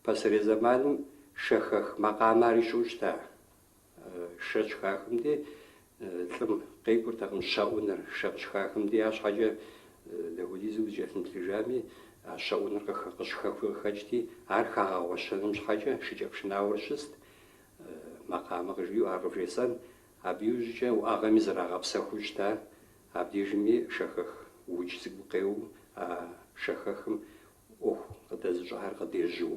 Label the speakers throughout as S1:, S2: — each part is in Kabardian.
S1: Пасэрей зэманым шэхэх макъамэ ари щыӏэу щыта Шэ щыхахым дей, лӏым къекӏуртэкъым щэӏуныр. Шэ щыхахым дей, арщхьэкӏэ дапхуэдизу зыкӏэлъымыплъыжами, а щэӏуныр къыщыхэхуи къыхэкӏти, ар хагъэгъуэщэным щхьэкӏэ шыкӏэпшынауэ щыст, макъамэ къыжиӏэу ар къывжесӏэн. Абы иужькӏэ уӏэгъэми зэрагъэпсэхуу щыта. Абдежми шэхэх удж цӏыкӏу къеуэу, а шэхэхым ӏуэху къыдэзыщӏахэр къыдежьэу.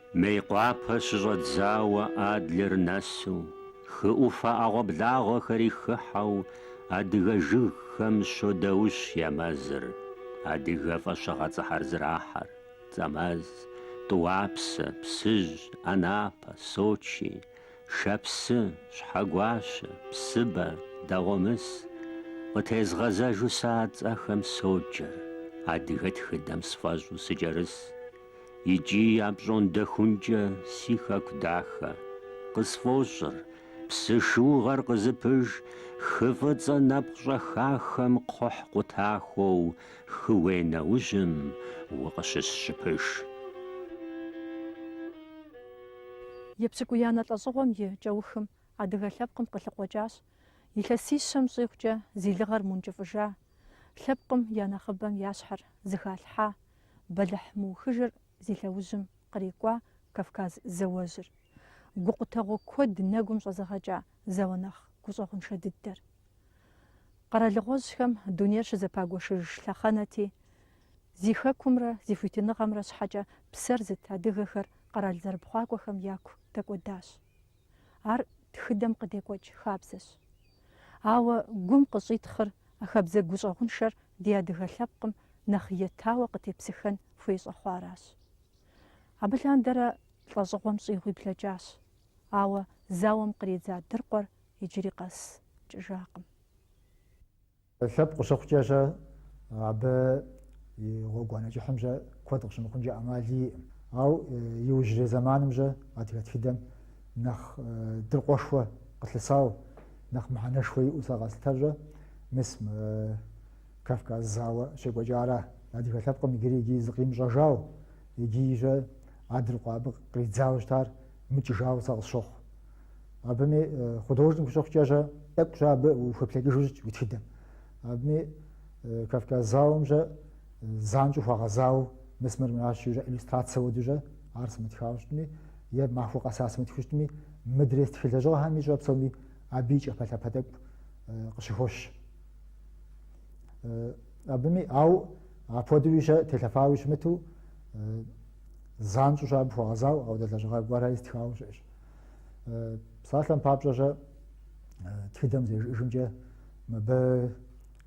S2: Мейкъуапэ щыщӏэдзауэ Адлер нэсу, хы ӏуфэ ӏэгъуэблагъэхэри хыхьэу адыгэ жыгхэм щодаущ я мэзыр, адыгэ фӏэщыгъэцӏэхэр зэрахьэр, Цӏэмэз, Тӏуапсэ, Псыжь, Анапэ, Сочи, Шэпсы, Щхьэгуащэ, Псыбэ, Дэгъуэмыс. Къытезгъэзэжу сэ а цӏэхэм соджэр, адыгэ тхыдэм сфӏэщӏу сыкӏэрыс. икӏи апщӏондэхункӏэ си хэку дахэ, къысфӏощӏыр, псы шыугъэр къызыпыж хы фӏыцӏэ нэпкъ щӏэхахэм кхъухь къутахуэу хы уей нэужьым
S3: укъыщысщыпыж. Епщыкӏуиянэ лӏэщӏыгъуэм и кӏэухым адыгэ лъэпкъым къылъыкъуэкӏащ, илъэсищэм щӏигъукӏэ зи лыгъэр мункӏыфӏыжа, лъэпкъым я нэхъыбэм я щхьэр зыхалъхьа, бэлыхь мыухыжыр зи лъэужьым кърикӏуа Кавказ зауэжьыр, гукъутэгъуэ куэд нэгум щӏэзыгъэкӏа зауэ нэхъ гущӏэгъуншэ дыдэр. Къэралыгъуэжьхэм дунейр щызэпагуэшыж лъэхъэнэти, зи хэкумрэ зи хуитыныгъэмрэ щхьэкӏэ псэр зыт адыгэхэр къэрал зэрыпхъуакӏуэхэм яку дэкӏуэдащ. Ар тхыдэм къыдекӏуэкӏ хабзэщ. Ауэ гум къыщӏитхъыр а хабзэ гущӏэгъуншэр ди адыгэ лъэпкъым нэхъ етауэ къытепсыхэн хуей щӏэхъуаращ. Абы лъандэрэ лӏэщӏыгъуэм щӏигъуи блэкӏащ, ауэ зауэм къридза дыркъуэр иджыри къэс кӏыжакъым.
S4: Лъэпкъ къыщыхъукӏэ щэ, абы и гъуэгуанэ кӏыхьым щэ куэд къыщымыхъункӏэ ӏэмал иӏым. Ау иужьрей зэманым щэ адыгэ тхыдэм нэхъ дыркъуэшхуэ къылъысау, нэхъ мыхьэнэшхуэ иӏэу сэ къэслъытэр щэ, мис мы Кавказ зауэ щекӏуэкӏара. Адыгэ лъэпкъым иджыри иджы зыкъимыщӏэжау, иджы щэ а дыркъуэ абы къридзауэ щытар. Мыкӏыжауэ сэ къысщохъу. Абыми художник ущыхъукӏэ щэ тӏэкӏу щэ абы ухуеплъэкӏыжу щыт уи тхыдэм. Абыми Кавказ зауэм щэ занщӏэу хуэгъэзауэ мис мыр мыращ жи щэ иллюстрацэ хуэдэу щэ ар сымытхауэ щытми е махуэ къэса сымытху щытми мыдрей стхы лэжьыгъэхэми щэ псоми абы и кӏапэлъапэ тӏэкӏу къыщыхощ. Абыми ауэ апхуэдэуи щэ телъэфауи щымыту Занщӏэу щэ абы хуэгъэзауэ апхуэдэ лэжьыгъэ гуэрхэри стхауэ щыӏэщ. Псалъэм папщӏэ щэ тхыдэм зэрыжиӏэжымкӏэ мыбы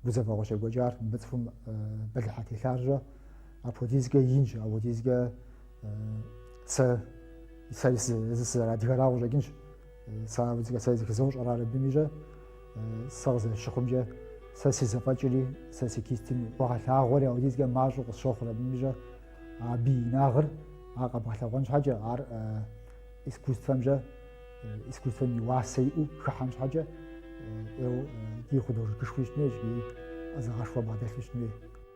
S4: гузэвэгъуэ щекӏуэкӏар, мыбы цӏыхум бэлыхьу телъар щэ, апхуэдизкӏэ инщ, апхуэдизкӏэ сэ сэ зы сызэрыадыгэрауэ къыщӏэкӏынщ. Сэ сэ зэхызощӏэр ар абыми щэ сэ къызэрыщыхъумкӏэ сэ си зэфӏэкӏри сэ си кистым хуэгъэлъагъуэри апхуэдизкӏэ мащӏэу къысщохъур абыми щэ абы и инагъыр ар къэбгъэлъэгъуэн щхьэкӏэ ар искусствэм щэ искусствэм и уасэ иӏэу хыхьэн щхьэкӏэ ди художникышхуи щытын хуейщ, ди ӏэзагъэшхуэ бгъэдэлъу щытын хуей.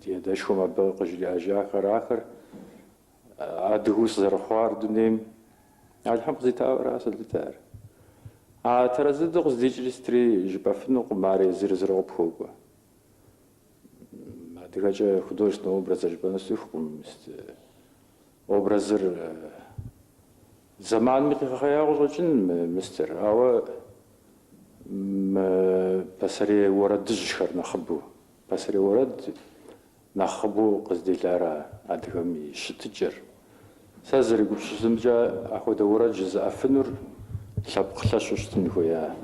S5: Ди адэшхуэм абы къыжриӏэжахэр ахэр адыгэу сызэрыхъуар дунейм Алыхьым къызитауэра сэ слъытэр. А тэрэз дыдэу къыздикӏри сытри жыпӏэфынукъым, ар езыр-езыру къыпхуокӏуэ. Адыгэкӏэ художественнэ образыр жыпӏэну сцӏыхукъым. Образыр зэманми къигъэхъея къыщӏэкӏын мыстер, ауэ мы пасэрей уэрэдыжьхэр нэхъыбэу Пасэрей уэрэд нэхъыбэу къыздилар а адыгэм и щытыкӏэр. Сэ сызэрегупсысымкӏэ, апхуэдэ уэрэд жызыӏэфынур лъэпкъ лъэщу щытын хуея,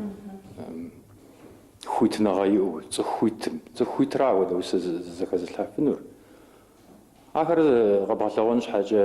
S5: хуитыныгъэ иӏэу, цӏыху хуитым. Цӏыху хуитыра апхуэдэ усэ зэхэзылъхьэфынур. Ахэр къэбгъэлъэгъуэн щхьэкӏэ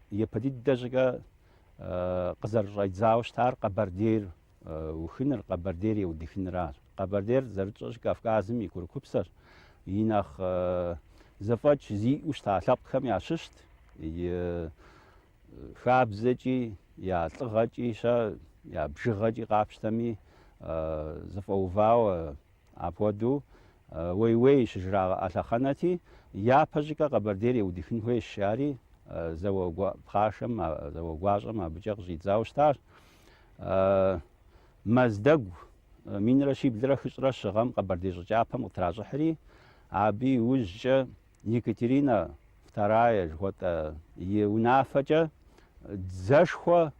S2: Япэ дыдэ щӏыкӏэ къызэрыщӏэдзауэ щытар Къэбэрдейр ухыныр, Къэбэрдейр еудыхыныращ. Къэбэрдейр зэрытщӏэщ Кавказым и курыкупсэщ. И нэхъ зэфӏэкӏ зиӏэу щыта лъэпкъхэм ящыщт и хабзэкӏи, я лӏыгъэкӏи, щэ я бжыгъэкӏи къапщтэми зэфӏэувауэ Апхуэдэу уей-уей щыжраӏэ лъэхъэнэти, япэ щӏыкӏэ Къэбэрдейр еудыхын хуейщ, жари зауэ пхъашэм, зауэ гуащӏэм абыкӏэ къыщӏидзауэ щытащ. Мэздэгу минрэ щиблрэ хыщӏрэ щы гъэм Къэбэрдей щӏы кӏапэм къытращӏыхьри, абы иужькӏэ Екатерина Вторая жыхуэтӏэ и унафэкӏэ дзэшхуэ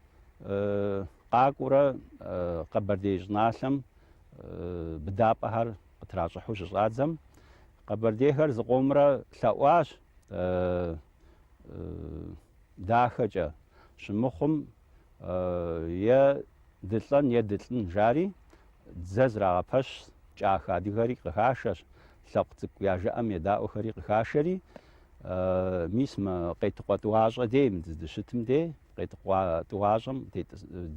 S2: къакӏуэурэ Къэбэрдей щӏыналъэм быдапӏэхэр къытращӏыхьу щыщӏадзэм, къэбэрдейхэр зыкъомрэ лъэӏуащ дахэкӏэ щымыхъум, е дылӏэн е дылӏын жари дзэ зрагъэпэщ кӏахэ адыгэри къыхашэщ, лъэпкъ цӏыкӏу я жыӏэм едаӏуэхэри къыхашэри, мис мы Къетыкъуэ тӏуащӏэ дей, мы дыздыщытым дей, Къетыкъуэ тӏуащӏэм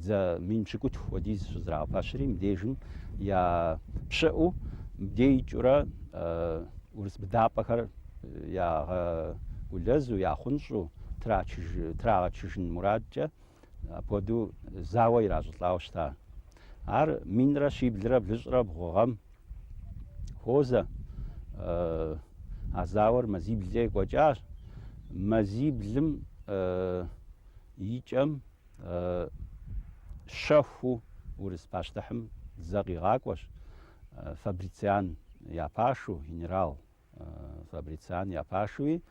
S2: дзэ мин пщыкӏутху хуэдиз щызрагъэпэщри, мыбдежым я пщыӏэу мыбдей икӏыурэ урыс быдапӏэхэр ягъэгулэзу, яхъунщӏу трагъэчыжын мурадкӏэ апхуэдэу зауэ иращӏылӏауэ щыта. Ар минрэ щиблрэ блыщӏрэ бгъу гъэм хуозэ. А зауэр мазиблкӏэ екӏуэкӏащ. Мазиблым и кӏэм щэхуу урыс пащтыхьым дзэ къигъакӏуэщ, Фабрициан я пашу, генерал. Фабрициан я пашуи,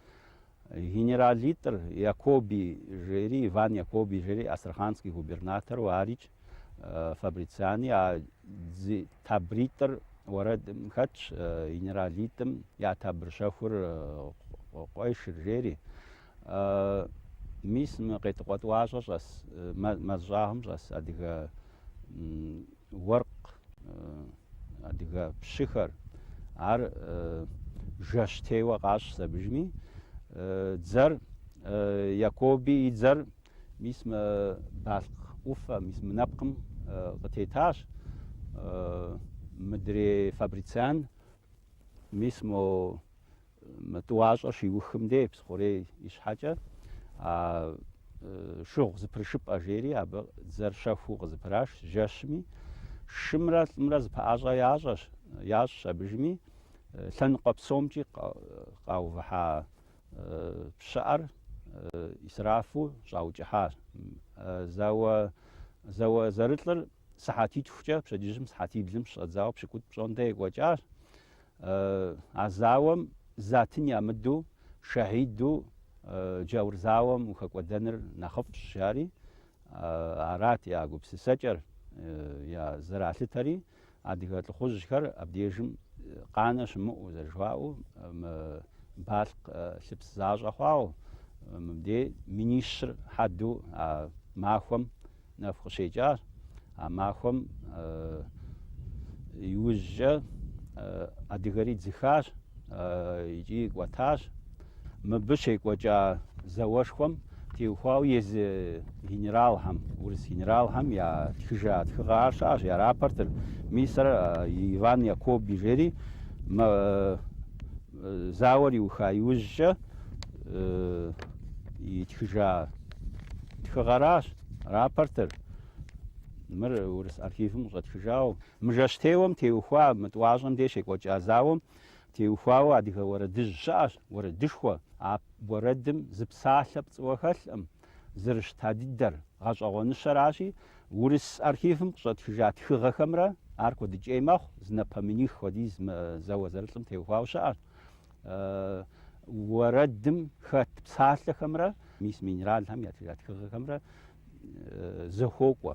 S2: генералитӏыр Якоби жери, Иван Якоби жери, Астраханский губернатору арикӏ, Фабрициани а дзи табритӏыр уэрэдым хэтщ, генералитӏым я табр щэхур къуешыр жери. Мис мы Къетыкъуэ тӏуащӏэ щӏэс, мэз щӏагъым щӏэс адыгэ уэркъ, адыгэ пщыхэр, ар жэщтеуэ къащӏщ абыжми, дзэр Якоби и дзэр мис мы Балъкъ ӏуфэ, мис мы нэпкъым къытетащ. Мыдрей Фабрициан мис мо мы тӏуащӏэр щиухым дей Псыхъурей ищхьэкӏэ, а шыгъу зыпрышыпӏэ жери абы дзэр щэхуу къызыпырашщ жэщми, шымрэ лӏымрэ зыпэӏэщӏэ ящӏэщ, ящӏщ абыжми, лъэныкъуэ псомкӏи къаувыхьа пщыӏэр исрафу щӏаукӏыхьащ. Зауэ, зауэ зэрылӏыр сыхьэтитхукӏэ пщэдджыжьым сыхьэтиблым щыщӏэдзауэ пщыкӏутӏ пщӏондэ екӏуэкӏащ. А зауэм затын ямыдэу шэхьиду джаур зауэм ухэкӏуэдэныр нэхъыфӏщ, жари. Арат я гупсысэкӏэр, я зэралъытэри. Адыгэ лӏыхъужьхэр абдежым къанэ щымыӏэу, зэрыжаӏэу, мы Балъкъ лъыпс защӏэ хъуауэ, мыбдей минищыр хьэду а махуэм Нэху къыщекӏащ а махуэм иужькӏэ адыгэри дзыхащ икӏи кӏуэтащ. Мыбы щекӏуэкӏа зауэшхуэм теухуауэ езы генералхэм, урыс генералхэм ятхыжа тхыгъэхэр щыӏащ, я рапортыр, мис ар Иван Якоби жери Зауэр иуха иужькӏэ итхыжа тхыгъэращ рапортыр. Мыр урыс архивым къыщӏэтхыжауэ. Мы жэщтеуэм теухуа, мы тӏуащӏэм деж щекӏуэкӏа зауэм теухуауэ адыгэ уэрэдыжь щыӏащ, уэрэдышхуэ. А уэрэдым зы псалъэ пцӏыуэ хэлъкъым. зэрыщыта дыдэр, гъэщӏэгъуэныщэращи, урыс архивым къыщӏэтхыжа тхыгъэхэмрэ ар куэдыкӏей мэхъу, зы напэ миних хуэдиз зауэ зэрылӏым теухуауэ щыӏащ. Уэрэдым хэт псалъэхэмрэ мис мы генералхэм ятхыжа тхыгъэхэмрэ зэхуокӏуэ.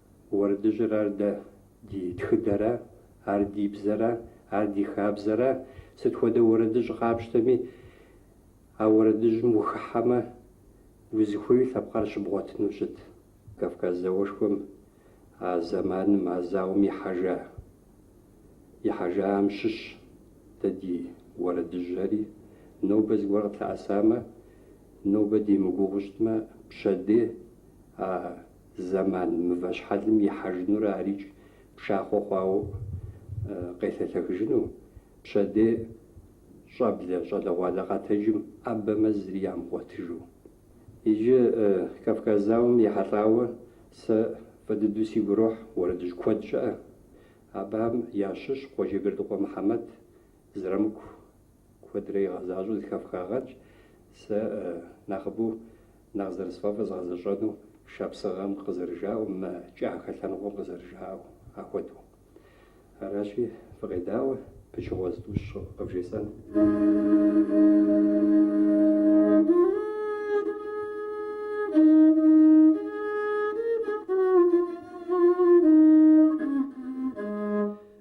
S1: Уэрэдыжьыр ар дэ, ди тхыдэра, ар ди бзэра, ар ди хабзэра. Сыт хуэдэ уэрэдыжь къапщтэми, а уэрэдыжьым ухыхьэмэ, узыхуей лъэпкъар щыбгъуэтыну щыт. Кавказ зауэшхуэм а зэманым, а зауэм ихьэжа, ихьэжахэм щыщщ дэ ди уэрэдыжьхэри. Нобэ зыгуэр къытлъэӏэсамэ, нобэ демыгугъуу щытмэ, пщэдей а зэман мывэ щхьэлым ихьэжынурэ арикӏ пшахъуэ хъуауэ къелъэлъэхыжыну, пщэдей щӏэблэ щӏалэгъуалэ къэтэджым ӏэбэмэ зыри ямыгъуэтыжу. Иджы Кавказ зауэм ехьэлӏауэ сэ фӏы дыдэу сигу ирохь уэрэдыжь куэд щыӏэ. Абыхэм ящыщ Къуэджэбердыкъуэ Мыхьэмэт, Зырамыку куэдрэ игъэзащӏэу зэхэфхагъэнщ. Сэ нэхъыбэу нэхъ зэрысфӏэфӏыр згъэзэщӏэну шапсыгъэм къызэрыжаӏэу, мы кӏахэ лъэныкъуэм къызэрыжаӏэу ахуэдэу. Аращи, фыкъедаӏуэ пычыгъуэ зытӏущ къывжесӏэну.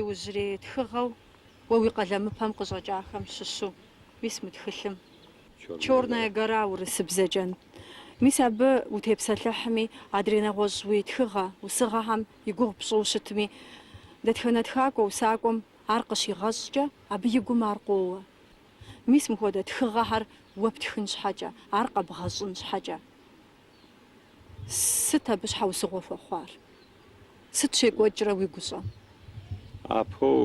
S3: Иужьрей тхыгъэу уэ уи къалэмыпэм къыщӏэкӏахэм щыщу, мис мы тхылъым Черная гора урысыбзэкӏэ, мис абы утепсэлъыхьми, адрей нэгъуэщӏ уи тхыгъэ, усыгъэхэм и гугъу пщӏыу щытми, дэтхэнэ тхакӏуэ, усакӏуэм ар къыщигъэщӏкӏэ, абы и гум ар къоуэ. Мис мыхуэдэ тхыгъэхэр уэ птхын щхьэкӏэ, ар къэбгъэщӏын щхьэкӏэ. Сыт абы щхьэусыгъуэ хуэхъуар? Сыт щекӏуэкӏрэ уи гущӏэм?
S2: Апэу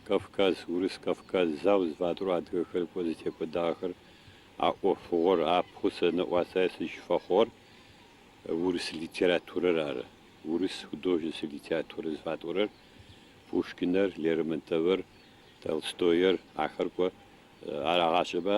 S2: Кавказ, Урыс-Кавказ зауэ зыфатӏоу адыгэхэр кӏуэ зытекӏуэдагъэхэр а ӏуэфыгъуэр, апэу сэ нэӏуасэ сызыщыфэхъугъэр урыс литературэр ары. Урыс художественнэ литературэ зыфатӏорэр Пушкинэр, Лермонтовыр, Толстоер ахэр кӏуэ арагъащӏэмэ,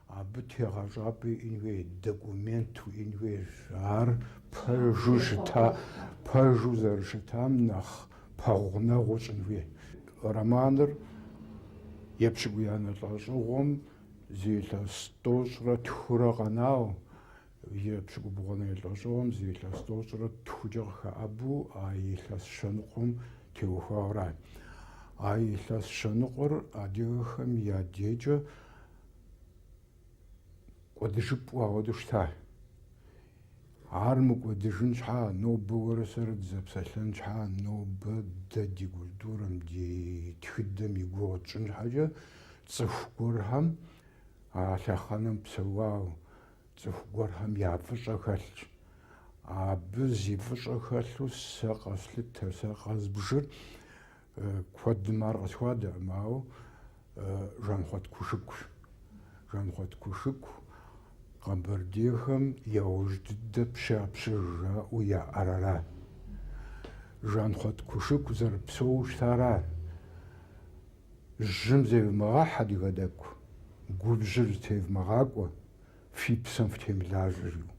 S6: Абы тегъэщӏапӏэ иӏэн хуей, документ уиӏэн хуей, ар пэжу щыта, пэжу зэрыщытам нэхъ пэгъунэгъуу щӏын хуей. Романыр епщыкӏуиянэ лӏэщӏыгъуэм зы илъэс тӏощӏрэ тхурэ къэнау, епщыкӏубгъуанэ лӏэщӏыгъуэм зы илъэс тӏощӏрэ тхукӏэ къыхэӏэбу а илъэс щэныкъуэм теухуауэ ара. А илъэс щэныкъуэр адыгэхэм я декӏэ кӏуэдыжыпӏэу апхуэдэу щыта. Ар мыкӏуэдыжын щхьа, нобэ уэрэ сэрэ дызэпсэлъэн щхьа, нобэ дэ ди культурэм, ди тхыдэм и гугъу тщӏын щхьэкӏэ цӏыху гуэрхэм а лъэхъэнэм псэуау, цӏыху гуэрхэм я фӏыщӏэ хэлъщ. Абы зи фӏыщӏэ хэлъу сэ къэслъытэр, сэ къэзбжыр. Куэдым ар къысхуадэркъым, ауэ Жанхъуэт Кушыкущ. Жанхъуэт Кушыку къэбэрдейхэм яужь дыдэ пщапщыж жаӏэу яӏар ара. Жанхъуэт Кушыку зэрыпсэууэ щытар ара. Жьым зевмыгъэхь адыгэ тӏэкӏу, губжьыр зытевмыгъакӏуэ, Фи псэм фытемылажьэжу.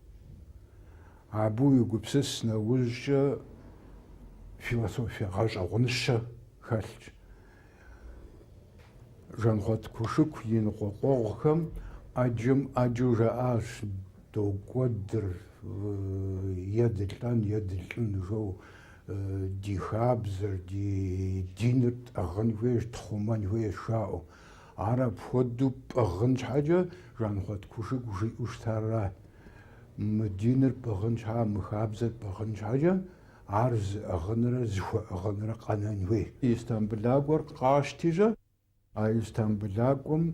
S6: Абы уегупсыс нэужькӏэ философие гъэщӏэгъуныщэ хэлъщ. Жанхъуэт Кушыку и ныкъуэкъуэгъухэм ӏэджэм ӏэджэу жаӏащ докӏуэдыр е дылӏэн, е дылӏын жэу, ди хабзэр, ди диныр тӏыгъын хуейщ, тхъумэн хуейщ жаӏэу. Ар апхуэдэу пӏыгъын щхьэкӏэ Жанхъуэт Кушыку жиӏэу щытар ара: Мы диныр пӏыгъын щхьа, мы хабзэр пӏыгъын щхьэкӏэ ар зыӏыгъынрэ зыхуэӏыгъынрэ къэнэн хуей. Истамбылакӏуэр къащти щэ. А Истамбылакӏуэм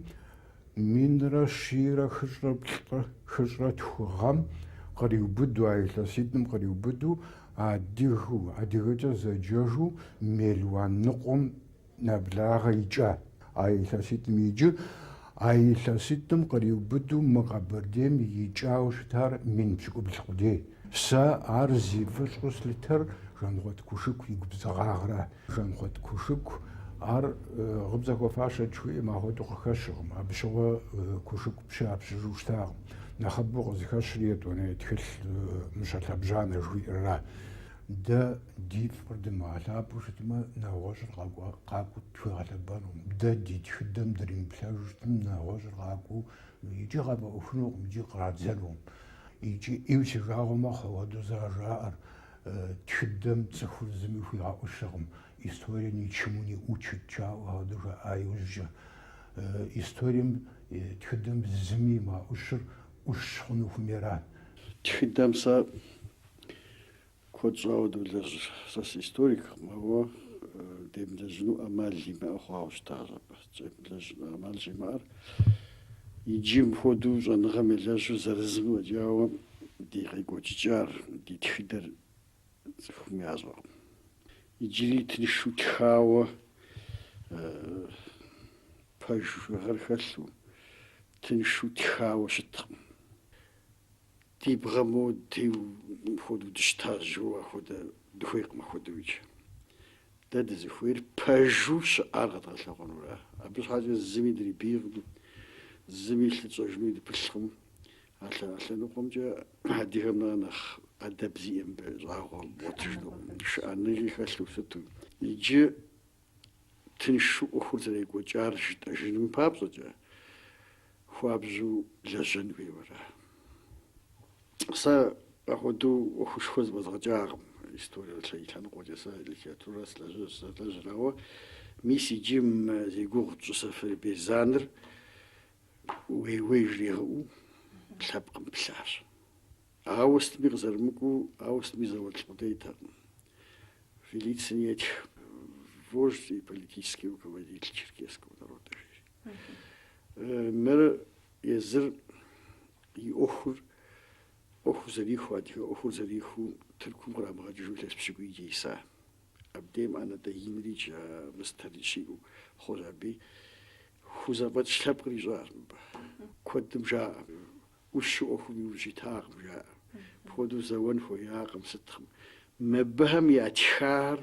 S6: минрэ щийрэ хыщӏрэ плӏы хыщӏрэ тху гъэм къриубыду, а илъэситӏым къриубыду адыгэу, адыгэкӏэ зэджэжу мелуан ныкъуэм нэблагъэ икӏа а илъэситӏым иджы а илъэситӏым къриубыду мы Къэбэрдейм икӏауэ щытар мин пщыкӏубл къудей. Сэ ар зи фӏыщӏэу слъытэр Жанхъуэт Кушыку и губзыгъагъра. Жанхъуэт Кушыку ар Гъыбзэ хуэфащэт жыхуиӏэм ахуэдэу къыхэщыркъым, абы щыгъуэ Кушыку пщы я пщыжу щытакъым. Нэхъыбэу къызыхэщри етӏуанэ тхылъ Мыщэ лъэбжьанэ жыхуиӏэрра. Дэ ди фӏыр дымыгъэлъапӏэу щытмэ, нэгъуэщӏыр къакӏуэу тхуигъэлъэпӏэнукъым. Дэ ди тхыдэм дримыплъэжу щытмэ, нэгъуэщӏыр къакӏуэу икӏи къафӏэӏуэхунукъым икӏи кърадзэнукъым. Икӏи ӏейуэ си жагъуэ мэхъу апхуэдэу зэрыжаӏэр, тхыдэм цӏыхур зыми хуигъэӏущыркъым, история ничему не учит жаӏэу апхуэдэу жаӏа иужькӏэ. Историем, тхыдэм зыми имыгъэӏущыр ӏущ хъуну хуэмейра. Тхыдэм
S7: сэ Куэд щӏауэ долэжь, сэ сыисториккъым, ауэ демылэжьыну ӏэмал имыӏэ хъуауэ щытащ абы. Демылэжьыну ӏэмал щӏимыӏэр иджы мыпхуэдэу щӏэныгъэм елэжьу зырызым фӏэкӏауэ ди къекӏуэкӏыкӏар, ди тхыдэр цӏыхум ящӏэкъым. Иджыри тыншу тхауэ пэжыгъэр хэлъу, тыншу тхауэ щыткъым. Ди бгъэм деуэу мыпхуэдэу дыщытащ жиӏэу ахуэдэ дыхуейкъым ахуэдэу икӏи. Дэ дызыхуейр пэжу щыӏар къэдгъэлъэгъуэнура. Абы щхьэкӏэ зыми дрибийкъым, зыми лъы тщӏэжынуи дыпылъкъым. А лъэныкъуэмкӏэ адыгэм нэхърэ нэхъ ӏэдэб зиӏэ мыбы щӏагъуэ бгъуэтыжынукъым, шыӏэныгъи хэлъу щыту. Иджы тыншу ӏуэхур зэрекӏуэкӏар жытӏэжыным папщӏэкӏэ хуабжьу лэжьэн хуейуэра? Сэ апхуэдэу ӏуэхушхуэ зэфӏэзгъэкӏакъым. Историе лъэ- лъэныкъуэкӏэ сэ литературэ слэжь- сызэлэжьыр, ауэ мис иджы мы зи гугъу тщӏы Сэфарбей Заныр уей-уей жригъыӏэу лъэпкъым плъащ. Ауэ сытми къызэрымыкӏуу, ауэ сытми зауэлӏ къудейтэкъым. Фелицин етх вождь и политический руководитель черкесского народа, жери. Мыр езыр и ӏуэхур, ӏуэхур зэрихуэ, адыгэ ӏуэхур зэрихуу Тыркум кърамыгъэкӏыжу илъэс пщыкӏуийкӏэ иса. Абдейм ӏэнатӏэ инри джа мыстэри щиӏэу хъуащ абы. Хузэфӏэкӏ лъэпкъыр ищӏащ мыбы. Куэдым жаӏэ. ӏущу ӏуэхум иужь итакъым, жаӏэ. Апхуэдэу зэуэн хуеякъым сыткъым. Мыбыхэм ятхар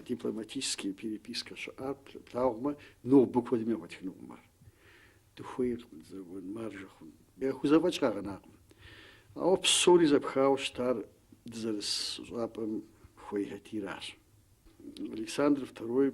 S7: дипломатический перепискэ щыӏар плъагъумэ, нобэ куэдым яхуэтхынукъым ар. Дыхуейкъым зэуэн, маржэ хъун. Яхузэфӏэкӏ къагъэнакъым. Ауэ псори зэпхауэ щытар дызэрыс щӏапӏэм хуейхэти аращ. Александр Второй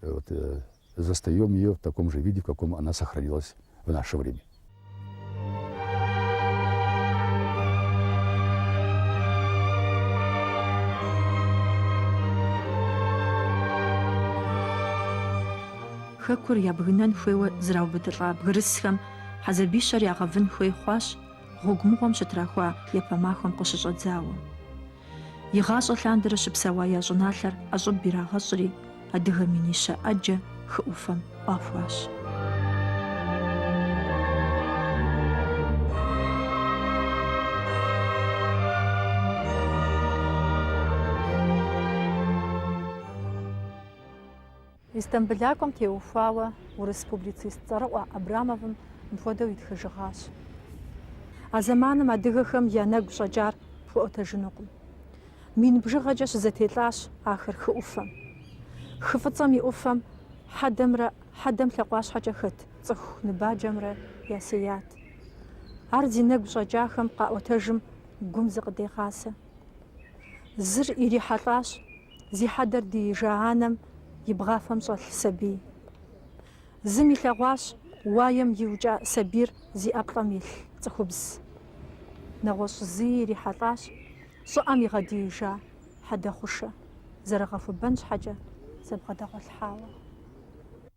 S8: Э, вот, э, застаем ее в таком же виде, в каком она сохранилась в наше время.
S3: хэкур ябгынэн хуейуэ зраубыдылӏа бгырысхэм хьэзабищэр ягъэвын хуей хъуащ гъуэгу мыгъуэм щытрахуа япэ махуэм къыщыщӏэдзауэ. Игъащӏэ лъандэрэ щыпсэуа я щӏыналъэр ӏэщӏыб ирагъэщӏри, адыгэ минищэ ӏэджэ хы ӏуфэм ӏуахуащ. Истамбылакӏуэм теухуауэ урыс публицист цӏэрыӏуэ Абрамовым мыпхуэдэу итхыжыгъащ, А зэманым адыгэхэм я нэгу щӏэкӏар пхуэӏуэтэжынукъым. Мин бжыгъэкӏэ щызэтелӏащ ахэр хы ӏуфэм. Хы фӏыцӏэм и ӏуфэм хьэдэмрэ хьэдэм лъакъуащхьэкӏэ хэт цӏыху ныбаджэмрэ ясеят. Ар зи нэгу щӏэкӏахэм къаӏуэтэжым гум зыкъыдегъазэ. Зыр ирихьэлӏащ зи хьэдэр диижа анэм и бгъафэм щӏэлъ сабий. Зым илъэгъуащ уаем иукӏа сабийр зи ӏэплӏэм илъ цӏыхубз. Нэгъуэщӏ зыи ирихьэлӏащ щӏыӏэм игъэдиижа хьэдэ хъушэ, зэрыгъэхуэбэн щхьэкӏэ зэбгъэдэгъуэлъхьауэ.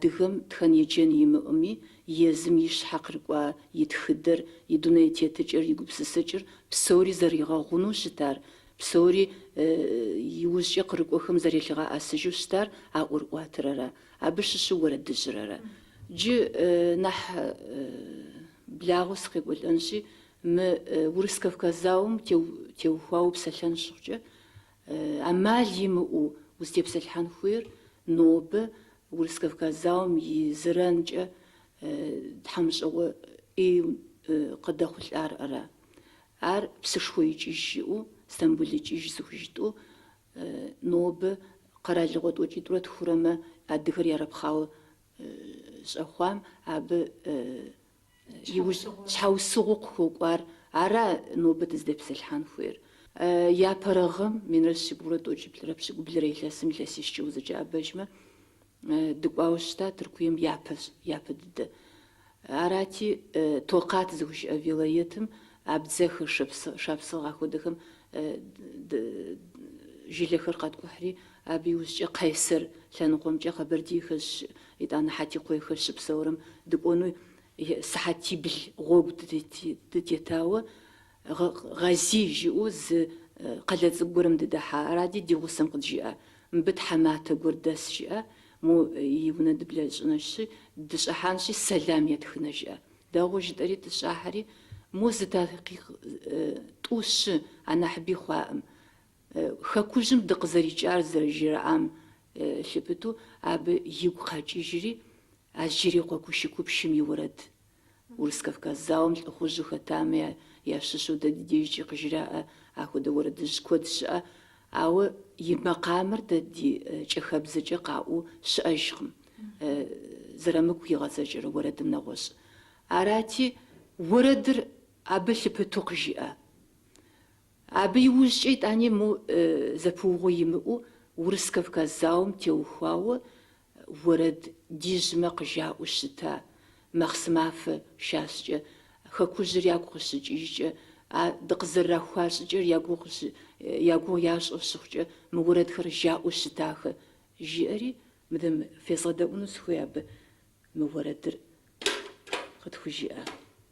S9: Адыгэм тхэн-еджэн имыӏэми, езым и щхьэ кърыкӏуа и тхыдэр, и дуней тетыкӏэр, и гупсысэкӏэр, псори зэригъэгъунэу щытар, псори иужькӏэ кърыкӏуэхэм зэрелъыгъэӏэсыжу щытар а ӏуэрыӏуатэрэрэ абы щыщу уэрэдыжьырэрэ. Джы нэхъ благъэу сыкъекӏуэлӏэнщи, мы Урыс-Кавказ зауэм теухуауэ псэлъэн щыхъукӏэ, ӏэмал имыӏэу узытепсэлъыхьэн хуейр нобэ Урыс-Кавказ зауэм и зэранкӏэ тхьэмыщкӏэгъуэ ӏей къыдэхъулӏар ара. Ар псышхуэ икӏыж жыӏэу, Стамбул икӏыж зыхужытӏэу, нобэ къэралыгъуэ тӏокӏитӏурэ тхурэмэ адыгэр ярэпхъауэ щӏэхъуам абы иужь щхьэусыгъуу къыхуэкӏуар ара нобэ дызтепсэлъхьэн хуейр. Япэрэ гъэм, минрэ щибгъурэ тӏокӏиплӏрэ пщыкӏублырэ илъэсым илъэсищкӏэ узэкӏэӏэбэжмэ, дыкӏуауэ щыта Тыркуем япэщ, япэ дыдэ. Арати, Токъат зыхужаӏэ вилаетым абдзэхэр, шапсыгъ ахуэдэхэм жылэхэр къаткӏухьри, абы иужькӏэ Къайсэр лъэныкъуэмкӏэ къэбэрдейхэр Итӏанэ Хьэтикъуейхэр щыпсэурэм дыкӏуэну сыхьэтибл гъуэгу дытетауэ, Гъазий жиӏэу зы къалэ цӏыкӏу гуэрым дыдэхьа. Аради ди гъусэм къыджиӏа, мыбы тхьэматэ гуэр дэс жиӏэ, мо и унэ дыблэщӏынэщи, дыщӏыхьэнщи, сэлам етхынэ жиӏэ. Дэгъуэу жытӏэри дыщӏыхьэри, мо зы такъикъ тӏу щы, анахьыби хъуаӏым. Хэкужьым дыкъызэрикӏар зэрыжраӏам лъыпыту абы игу къэкӏыжри, Ажырикъуэ Кущыкупщым и уэрэд. Урыс-Кавказ зауэм лӏыхъужьу хэтамэ ящыщу дэ ди дежкӏи къыжраӏэ ахуэдэ уэрэдыжь куэд щыӏэ, ауэ и макъамэр дэ ди кӏахэбзэкӏэ къаӏуу щыӏэжкъым, Зэрамыку игъэзакӏэрэ уэрэдым нэгъуэщӏ. Арати, уэрэдыр абы лъыпыту къыжиӏэ. Абы иужькӏэ итӏани мо зэпыугъуэ имыӏэу Урыс-Кавказ зауэм теухуауэ уэрэд ди жьымэ къыжаӏэу щыта махъсымафэ щащӏкӏэ, хэкужьыр ягу къыщыкӏыжкӏэ, а дыкъызэрырахуа щӏыкӏэр я гугъу ящӏэу щыхъукӏэ мы уэрэдхэр жаӏэу щытахэ, жиӏэри мыдэм фезгъэдэӏуну сыхуей абы мы уэрэдыр къытхужиӏа.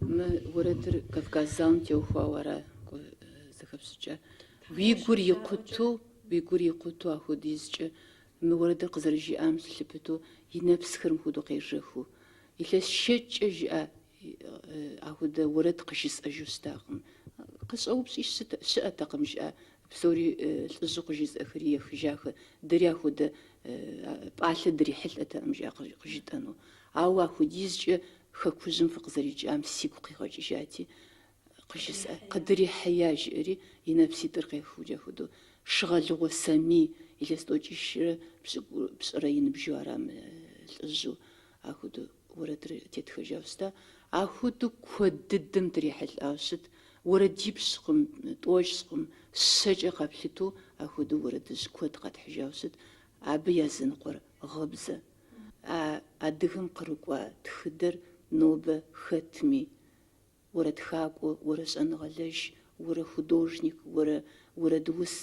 S9: Мы уэрэдыр Кавказ зауэм теухуауэ ара, зэхэпщӏыкӏэ? Уи гур икъуту, уи гур икъуту ахуэдизкӏэ мы уэрэдыр къызэрыжиӏам щылъыпыту и нэпсхэр мыхуэдэу къежэхыу. Илъэс щэщӏкӏэ жиӏэ, Ахуэдэ уэрэд къыжысӏэжу щытакъым. Къыщӏэупщӏи щыӏэтэкъым, жиӏэ. Псори лӏыжьу къыжызыӏэхэри ехыжахэ. Дэри ахуэдэ пӏалъэ дрихьэлӏэтэкъым, жиӏэ, къыжытӏэну. Ауэ ахуэдизкӏэ хэкужьым фыкъызэрикӏам сигу къигъэкӏыжати, Къыжысӏэ, къыдрихьея, жиӏэри и нэпситӏыр къехыукӏэ ахуэдэу, Шыгъэлыгъуэ Сэмий илъэс тӏокӏищрэ пщӏырэ и ныбжьу арам лӏыжьу, ахуэдэу уэрэдыр теттхэжауэ щыта. Ахуэдэу куэд дыдэм дрихьэлӏауэ щыт, уэрэдипщкъым, тӏощӏкъым, щэкӏэ къэплъыту ахуэдэу уэрэдыжь куэд къэтхьыжауэ щыт, абы языныкъуэр гъыбзэ. А адыгэм кърыкӏуа тхыдэр нобэ хэтми, Уэрэ тхакӏуэ, уэрэ щӏэныгъэлэжь, уэрэ художник, уэрэ уэрэдус,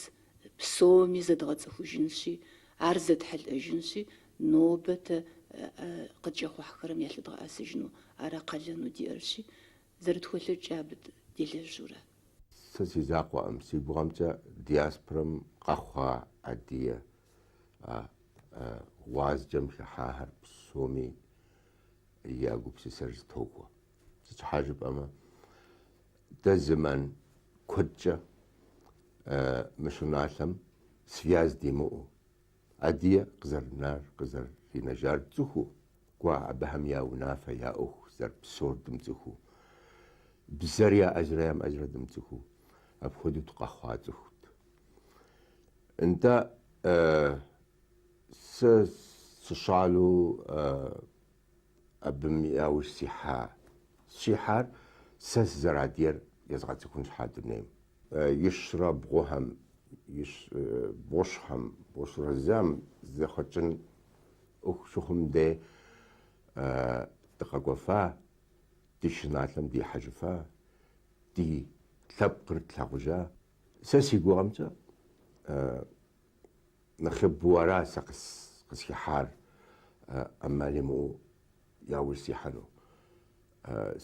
S9: псоми зэдгъэцӏыхужынщи, ар зэтхьэлӏэжынщи, нобэ тэ къыткӏэхъухьхэрэм ялъыдгъэӏэсыжыну ара къалэну диӏэрщи, зэрытхуэлъэкӏкӏэ абы делэжьурэ? Сэ
S10: си закъуэӏым, си гугъэмкӏэ диаспорэм къэхъуа адыгэ гъуазджэм хыхьахэр псоми я гупсысэр зэтохуэ. Сыт щхьа жыпӏэмэ, дэ зэман куэдкӏэ мы щӏыналъэм связь димыӏэу, адыгэ къызэрынар, къызэринэжар цӏыхуу, кӏуэ абыхэм я унафэ, я ӏуэху зэрыпсэур дымыцӏыхуу, бзэр яӏэжрэ ямыӏэжрэ дымыцӏыхуу, апхуэдэу дыкъэхъуа цӏыхут. Нтӏэ, сэ сыщӏалэу Абым яужь сихьа. Сихьар сэ сызэрыадыгэр езгъэцӏыхун щхьа дунейм. Ищӏрэ бгъухэм, ищ бгъущӏхэм, бгъущӏрэ зым зэхэкӏын ӏуэху щыхъум дей дыкъэкӏуэфа, ди щӏыналъэм дихьэжыфа, ди лъэпкъыр тлъагъужа. Сэ си гугъэмкӏэ Нэхъыбэу ара сэ къысхихьар ӏэмал имыӏэу яужь сихьэну.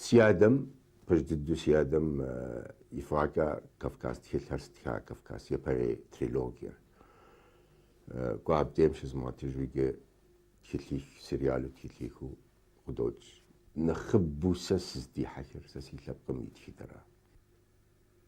S10: Си адэм, пэж дыдэу си адэм и фӏыгъэкӏэ Кавказ тхылъхэр стха, Кавказ япэрей трилогиер. Кӏуэ абдейм щызмыгъэтыжу иджы тхылъих, сериалу тхылъихыу къыдокӏ. Нэхъыбэу сэ сыздихьэхыр сэ си лъэпкъым и тхыдэра.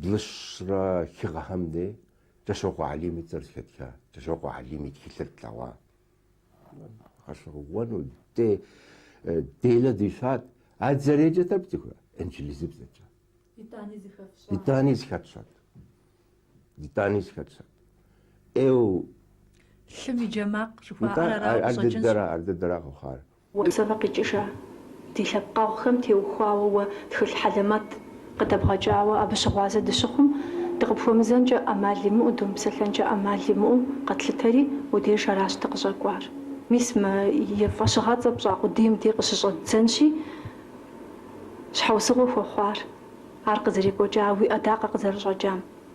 S10: Блыщӏрэ хы гъэхэм дей Кӏыщокъуэ Алим и цӏэр зэхэтха, Кӏыщокъуэ Алим и тхылъыр тлъэгъуа. Гъэщӏэгъуэну дэ делэ дищӏат. А дзэрейкӏэ тӏэкӏу цӏыхуэ, инджылызыбзэкӏэ. Итӏани зыхэтщӏат. Итӏани зыхэтщӏат. Эу.
S3: Лъым и джэмакъ жыхуаӏэр арауэ къыщӏэкӏынщ. Ар дыдэра
S10: къэхъуар. Косовэ
S11: къикӏыжа ди лъэпкъэгъухэм теухуауэ уэ тхылъ хьэлэмэт къыдэбгъэкӏауэ абы щыгъуазэ дыщыхъум,
S3: дыкъыпхуэмызэнкӏэ ӏэмал имыӏэу, думыпсэлъэнкӏэ ӏэмал имыӏэу къэтлъытэри, уэ деж аращ дыкъыщӏэкӏуар. Мис мы и фӏэщыгъэцӏэ пщӏа къудейм дей къыщыщӏэддзэнщи, щхьэусыгъуэ хуэхъуар, ар къызэрекӏуэкӏа уи ӏэдакъэ къызэрыщӏэкӏам.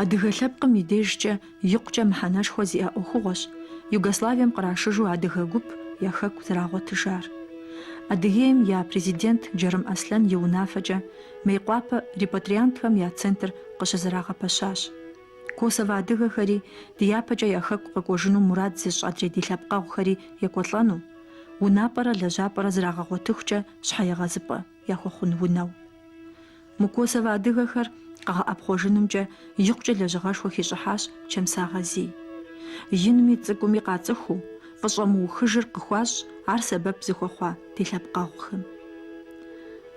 S3: Адыгэ лъэпкъым и дежкӏэ икъукӏэ мыхьэнэшхуэ зиӏэ ӏуэхугъуэщ Югославием кърашыжу адыгэ гуп я хэку зэрагъуэтыжар. Адыгейм я Президент Джарым Аслъэн и унафэкӏэ Мейкъуапэ репатриантхэм я центр къыщызэрагъэпэщащ. Косово адыгэхэри дяпэкӏэ я хэку къэкӏуэжыну мурад зыщӏ адрей ди лъэпкъэгъухэри екӏуэлӏэну, унапӏэрэ лэжьапӏэрэ зрагъэгъуэтыхукӏэ щхьэегъэзыпӏэ яхуэхъун унэу. Мы Косовэ адыгэхэр къэгъэӏэпхъуэжынымкӏэ икъукӏэ лэжьыгъэшхуэ хищӏыхьащ Чэмсо Гъазий. Инми цӏыкӏуми къацӏыхуу, фӏыщӏэ мыухыжыр къыхуащӏ ар сэбэп зыхуэхъуа ди лъэпкъэгъухэм.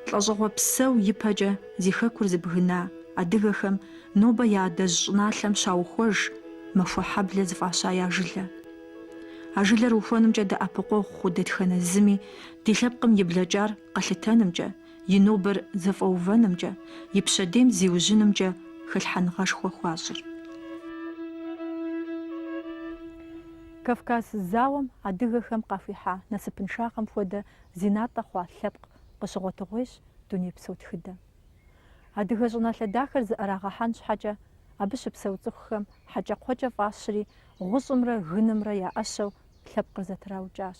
S3: Лӏэщӏыгъуэ псо ипэкӏэ зи хэкур зыбгына адыгэхэм нобэ я адэжь щӏыналъэм щаухуэж Махуэхьэблэ зыфӏаща я жылэ. А жылэр ухуэнымкӏэ дэӏэпыкъуэгъу хъу дэтхэнэ зыми Ди лъэпкъым и блэкӏар къэлъытэнымкӏэ, и нобэр зэфӏэувэнымкӏэ, и пщэдейм зиужьынымкӏэ хэлъхьэныгъэшхуэ хуащӏыр. Кавказ зауэм адыгэхэм къахуихьа насыпыншагъэм хуэдэ зи натӏэ хъуа лъэпкъ къыщыгъуэтыгъуейщ дунейпсо тхыдэм. Адыгэ щӏыналъэ дахэр зыӏэрагъэхьэн щхьэкӏэ, абы щыпсэу цӏыхухэм хьэкӏэкхъуэкӏэ фӏащри, гъущӏымрэ гынымрэ я ӏэщэу лъэпкъыр зэтраукӏащ.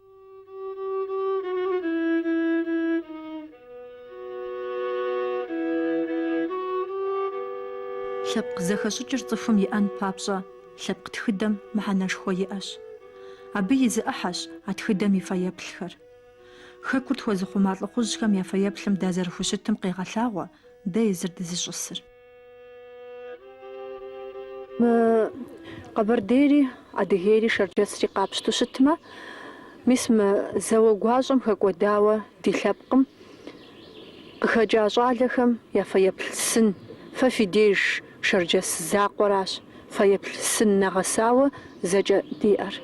S3: Лъэпкъ зэхэщӏыкӏыр цӏыхум иӏэн папщӏэ лъэпкъ тхыдэм мыхьэнэшхуэ иӏэщ. Абы и зы ӏыхьэщ а тхыдэм и фэеплъхэр. Хэкур тхуэзыхъума лӏыхъужьхэм я фэеплъым дазэрыхущытым къегъэлъагъуэ дэ езыр дызыщӏысыр.
S11: Къэбэрдейри, Адыгейри, Шэрджэсри къапщту щытмэ, мис мы зауэ гуащӏэм хэкӏуэдауэ ди лъэпкъым къыхэкӏа щӏалэхэм я фэеплъ сын, фэ фи деж Шэрджэс закъуэращ фэеплъ сын нэгъэсауэ зэкӏэ диӏэр.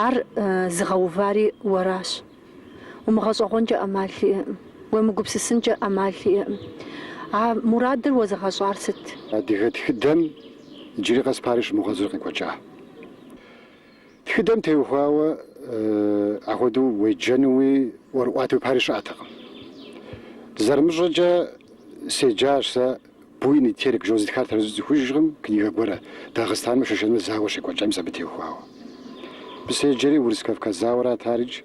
S11: Ар зыгъэувари уэращ. Умыгъэщӏэгъуэнкӏэ ӏэмал иӏэкъым, уемыгупсысынкӏэ ӏэмал иӏэкъым. А мурадыр уэзыгъэщӏар сыт? Адыгэ тхыдэм
S7: иджыри къэс пари щымыгъуэзыр къекӏуэкӏа. Тхыдэм теухуауэ ахуэдэу уеджэнуи ӏуэрыӏуатэуи пари щыӏэтэкъым. Зэрымыщӏэкӏэ, седжащ сэ Буйный Терек жэуэ, зытхар тэрэзу сцӏыхужкъым книгэ гуэрэ, Дагъыстанмэ шэшэнмэ зауэ щекӏуэкӏам мис абы теухуауэ. Абы седжэри Урыс-Кавказ зауэрат арикӏ,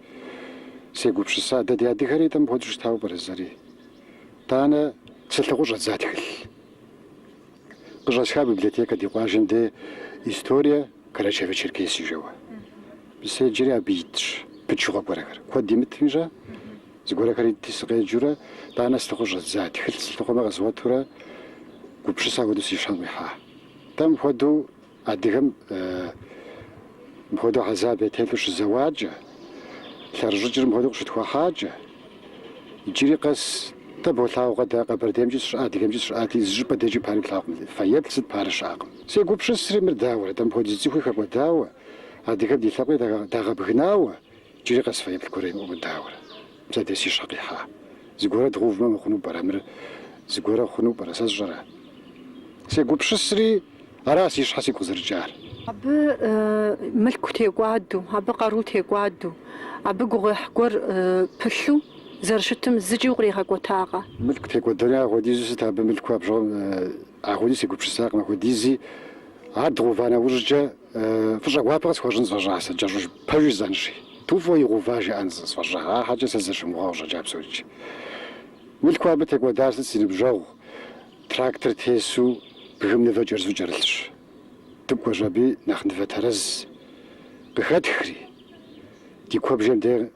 S7: сегупщыса, дэ ди адыгэри тӏэ мыпхуэдэу щытауэ пӏэрэ зэри? Тӏанэ сылъыхъуу щӏэздза тхылъ. Къыщӏэсха библиотекэ ди къуажэм де История Карачаево-Черкесии жэуэ. Абы седжэри абы итщ пычыгъуэ гуэрхэр. Куэд имытми щӏэ? Зыгуэрэхэр итти, сыкъеджэурэ, тӏанэ сылъыхъуэу щӏэздза, тхылъ сылъыхъуэмэ къэзгъуэтурэ, гупщысэ апхуэдэу си щхьэм къихьа. Дэ мыпхуэдэу адыгэм мыпхуэдэу хьэзаб ятелъу щызэуакӏэ, лъэрыщӏыкӏыр мыпхуэдэу къыщытхуахьакӏэ, иджыри къэс дэ болъагъукъэ, дэ Къэбэрдеймкӏи сыщыӏа, Адыгеймкӏи сыщыӏати, зы щӏыпӏэ декӏи пари плъагъукъым, фэеплъ сыт пари щыӏэкъым. Сегупщысри мыр дауэрэ, дэ мыпхуэдиз цӏыхуи хэкӏуэдауэ, адыгэм ди лъэпкъи дагъэбгынауэ, Джыри къэс фэеплъ гуэр имыӏэу дауэрэ, мис абдей си щхьэ къихьа. Зыгуэрэ дгъувмэ мыхъуну пӏэрэ мыр? Зыгуэрэ хъуну пӏэрэ? Сэ сщӏэрэ? Сегупщысри, ара си щхьэ сигу къызэрыкӏар?
S11: Абы мылъку текӏуаду, абы къару текӏуаду, абы гугъуехь гуэр пылъу зэрыщытым зыкӏи укъригъэкӏуэтакъэ? Мылъку текӏуэдэри
S7: ахуэдизу сыт абы мылъку бжыгъэм? Ахуэдизу сегупщысакъым, ахуэдизи. Ар дгъува нэужькӏэ фӏыщӏэ гуапэ къысхуэщӏын сфӏэщӏа сэ, кӏэщӏу пэжу жысӏэнщи. Ту фӏыуэ игъува жаӏэн сфӏэщӏа, ахьэкӏэ сызыщымыгугъу къыщӏэкӏа псорикӏи. Мылъкуу абы текӏуэдар сыт си ныбжьэгъу, трактор тесу бгым нывэ кӏэрызу кӏэрылъщ. Дыкӏуэщ аби нэхъ нывэ тэрэз къыхэтхри, ди куэбжэм дей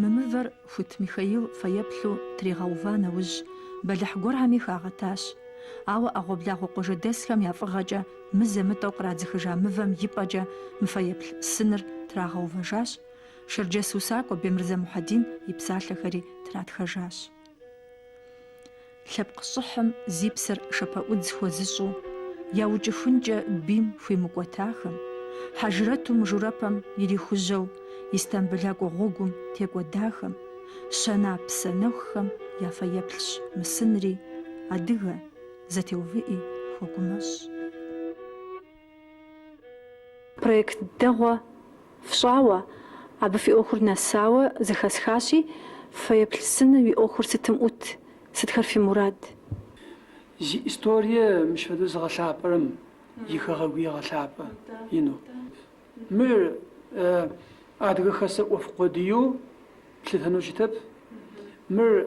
S3: Мы мывэр Хуит Михаил фэеплъу тригъэува нэужь, бэлыхь гуэрхэми хагъэтащ. Ауэ ӏэгъуэблагъуэ къуажэдэсхэм я фӏыгъэкӏэ мызэ-мытӏэу кърадзыхыжа мывэм и пӏэкӏэ мы фэеплъ сыныр трагъэувэжащ, шэрджэс усакӏуэ Бемырзэ Мухьэдин и псалъэхэри тратхэжащ. Лъэпкъ щӏыхьым зи псэр шэпэӏудз хуэзыщӏу, яукӏыхункӏэ бийм хуимыкӏуэтахэм, хьэжрэту мыжурэпэм ирихужьэу Истамбылакӏуэ гъуэгум текӏуэдахэм, щэна псэ нэхухэм я фэеплъщ мы сынри, адыгэ, зэтеувыӏи хуэгумэщӏ.
S11: Проект дэгъуэ фщӏауэ, абы фи ӏуэхур нэсауэ зэхэсхащи, фэеплъ сыным и ӏуэхур сытым ӏут, сытхэр фи мурад?
S12: Зи историе мыщ фэдэу зыгъэлъапӏэрэм и хэгъэгуи егъэлъапӏэ ину. Мыр Адыгэ Хэсэ ӏуэху къуэдыйэу плъытэну щытэп. Мыр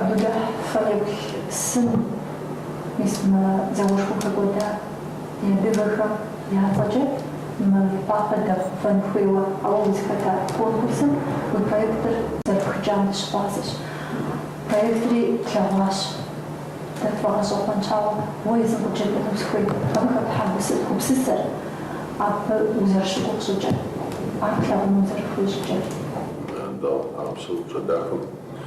S12: Абыдэ
S3: фэеплъ сын мис мы зауэшхуэм хэкӏуэда ди адыгэхэм я цӏэкӏэ Мейкъуапэ дэгъэувэн хуейуэ, ауэ узыхэта конкурсым уи проектыр зэрыпхыкӏам дыщыгъуазэщ. Проектри тлъэгъуащ. Дэ тфӏэгъэщӏэгъуэнщ, ауэ уэ езым къыджепӏэну сыхуейт абы хэплъхьа гупсысэр, абы узэрыщыгугъ щӏыкӏэр, ар плъагъуну узэрыхуей щӏыкӏэр.
S13: Дауэ, а псэупщӏэ дахэм.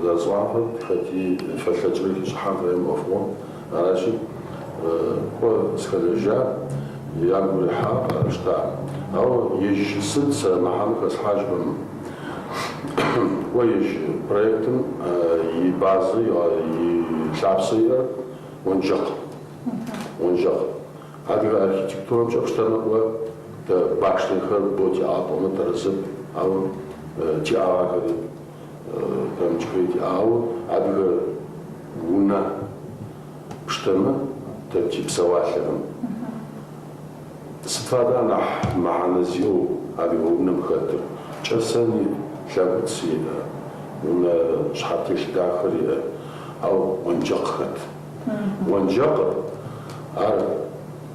S13: Зыгъэцӏуакъым, хэти фэлъэкӏрэ хищӏыхьэн хуейм ӏуэхугъуэм. Аращи, кӏуэ сыхэлэжьа ягу ирихьам къахэщтакъым. Ауэ ежь сыт сырамыхьэну хэслъхьащӏэкъым, кӏуэ ежь проектым и базэ, и лъапсэ иӏэр уэнжэкъ. Уэнжэкъ. Адыгэ архитектурэмкӏэ пщтэмэ, кӏуэ дэ башнэхэр бо тиӏагъэ пӏомэ, тэрэзэп, ауэ тиӏагъэхэри Пэмычкрей диӏауэ адыгэ унэ пштэмэ тэ ти псэуалъэхэм сыт фэдэ анахь мыхьэнэ зиӏэу адыгэ унэм хэтыр? Кӏэсэни, лъэгуц иӏэ, унэ щхьэтелъ дахэр иӏэ, ау онджэкъ хэт? Онджэкъыр ар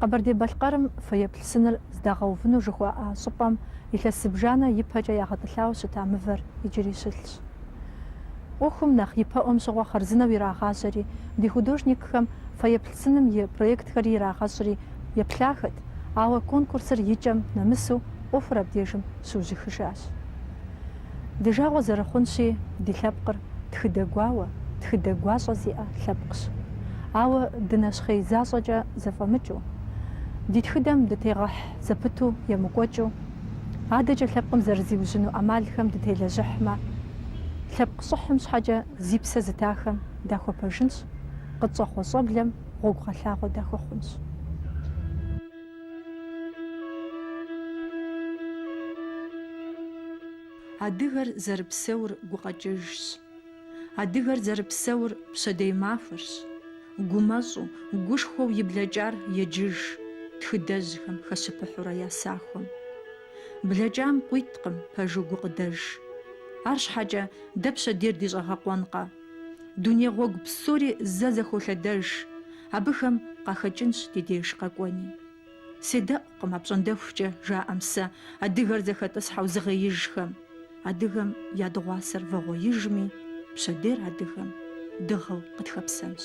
S3: Къэбэрдей-Балъкъэрым фэеплъ сыныр здагъэувыну жыхуаӏа щӏыпӏэм илъэс зыбжанэ ипэкӏэ ягъэтӏылъауэ щыта мывэр иджыри щылъщ. ӏуэхум нэхъ ипэӏуэм щыгъуэ хъарзынэу ирагъажьэри, ди художникхэм фэеплъ сыным и проектхэри ирагъэщӏри еплъахэт, ауэ конкурсыр икӏэм нэмысу ӏуэхур абдежым щыужьыхыжащ. Ди жагъуэ зэрыхъунщи, ди лъэпкъыр тхыдэ гуауэ, тхыдэ гуащӏэ зиӏэ лъэпкъщ. Ауэ дынэщхъей защӏэкӏэ зэфӏэмыкӏыу, ди тхыдэм дытегъыхь зэпыту емыкӏуэкӏыу, адэкӏэ лъэпкъым зэрызиужьыну ӏэмалхэм дытелэжьыхьмэ, лъэпкъ щӏыхьым щхьэкӏэ зи псэ зытахэм дахуэпэжынщ, къытщӏэхъуэ щӏэблэм гъуэгугъэлъагъуэ дахуэхъунщ. Адыгэр зэрыпсэур гукъэкӏыжщ. Адыгэр зэрыпсэур пщэдей махуэрщ. Гумэщӏу, гушхуэу и блэкӏар еджыж тхыдэжьхэм хэщыпыхьурэ я сахуэм. Блэкӏам къуиткъым пэжу гукъыдэж. Арщхьэкӏэ дэ пщэдейр ди щӏэгъэкъуэнкъэ? Дуней гъуэгу псори зэ зэхолъэдэж, абыхэм къахэкӏынщ ди деж къэкӏуэни. Седэӏукъым апщӏондэхукӏэ жаӏэм сэ адыгэр зэхэтӏысхьэу зыгъеижхэм, адыгэм я дыгъуасэр вагъуэижми, пщэдейр адыгэм дыгъэу къытхэпсэнщ.